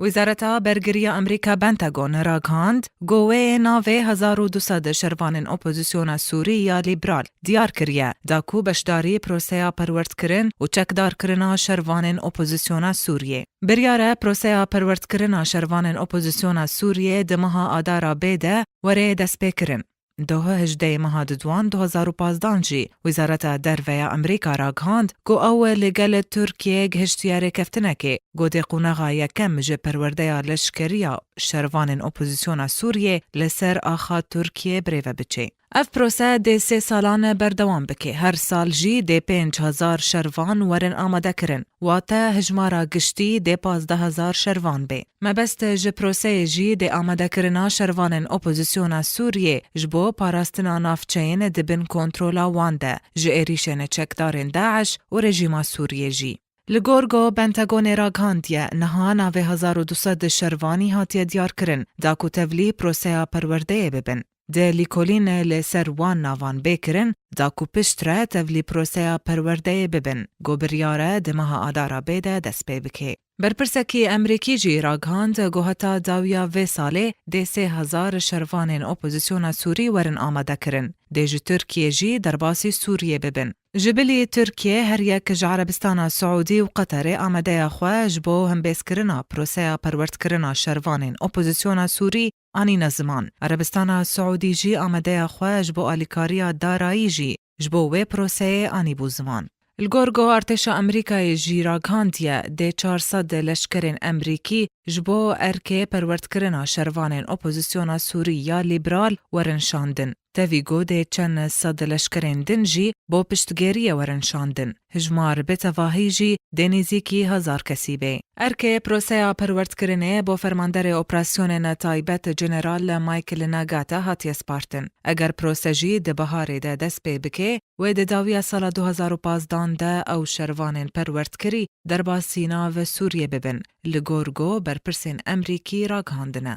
Wizareta Bergirî ya Amerîka Pentagon ragihand ku wê navê hezar û du sed şervanên opozisyona Sûrî ya lîbral diyar kiriye da ku beşdarî proseya perwerdkirin û çekdarkirina şervanên opozisyona Sûriyê biryar e. Proseya perwerdkirina şervanên opozisyona Sûriyê di meha Adara bê de were destpêkirin. Doh hejdeyê meha Didwan du hezar û pazdeh an jî Wizareta Derve ya Amerîka ragihand ku ew li gel Tirkiyeyê gihiştiye rêkeftinekê ku dê qonaxa yekem ji perwerdeya leşkeriya şervanên opozîsyona Sûriyê li ser axa Tirkiyeyê birêve biçê. Ev prose dê sê salan berdewam bike. Her sal jî dê pênc hezar şervan werin amadekirin. Wate hijmara giştî dê pazdeh hezar şervan bê. Mebest ji proseyê jî dê amadekirina şervanên opozîsyona Sûriyê ji bo parastina navçeyên di bin kontrola wan de ji êrîşên çekdarên DAIŞ û rejîma Sûriyê jî. Li gor ku Pentagonê ragihandiye, niha navê hezar û du sed şervanî hatiye diyarkirin, da ku tevlî proseya perwerdeyê bibin. Dê lîkolîn li ser wan navan bê kirin da ku pişt re tevlî proseya perwerdeyê bibin, ku biryare di meha Adara bê de dest pê bike. Berpirsekî Emrîkî jî ragihand ku heta dawiya vê salê dê sê hezar şervanên opozisyona Sûrî werin amadekirin, dê ji Tirkiyê jî derbasî Sûriyê bibin. Ji bilî Tirkiyê her yek ji Erebistana Siûdî û Qeterê amadeya xwe ji bo hembêzkirina proseya perwerdkirina şervanên opozisyona Sûrî anîne ziman. Erebistana Siûdî jî amadeya xwe ji bo alîkariya darayî jî ji bo wê proseyê anîbû ziman. Li gor ku artêşa Amerîkayê jî ragihandiye dê çar sed leşkerên Amerîkî ji bo erkê perwerdkirina şervanên opozîsyona Sûrî ya lîbral werin şandin. Tevî ku dê çend sed leşkerên din jî bo piştgêriyê werin şandin, hijmar bi tevahî jî dê nêzîkî hezar kesî bê. Erkê proseya perwerdkirinê bo Fermanderê Operasyonên Taybet General Michael Nagata hatiye spartin. Eger prose jî di biharê de dest pê bike, wê di dawiya sala du hezar û pazdeh an de ew şervanên perwerdkirî derbasî nav Sûriyê bibin, li gor ku berpirsên Emrîkî ragihandine.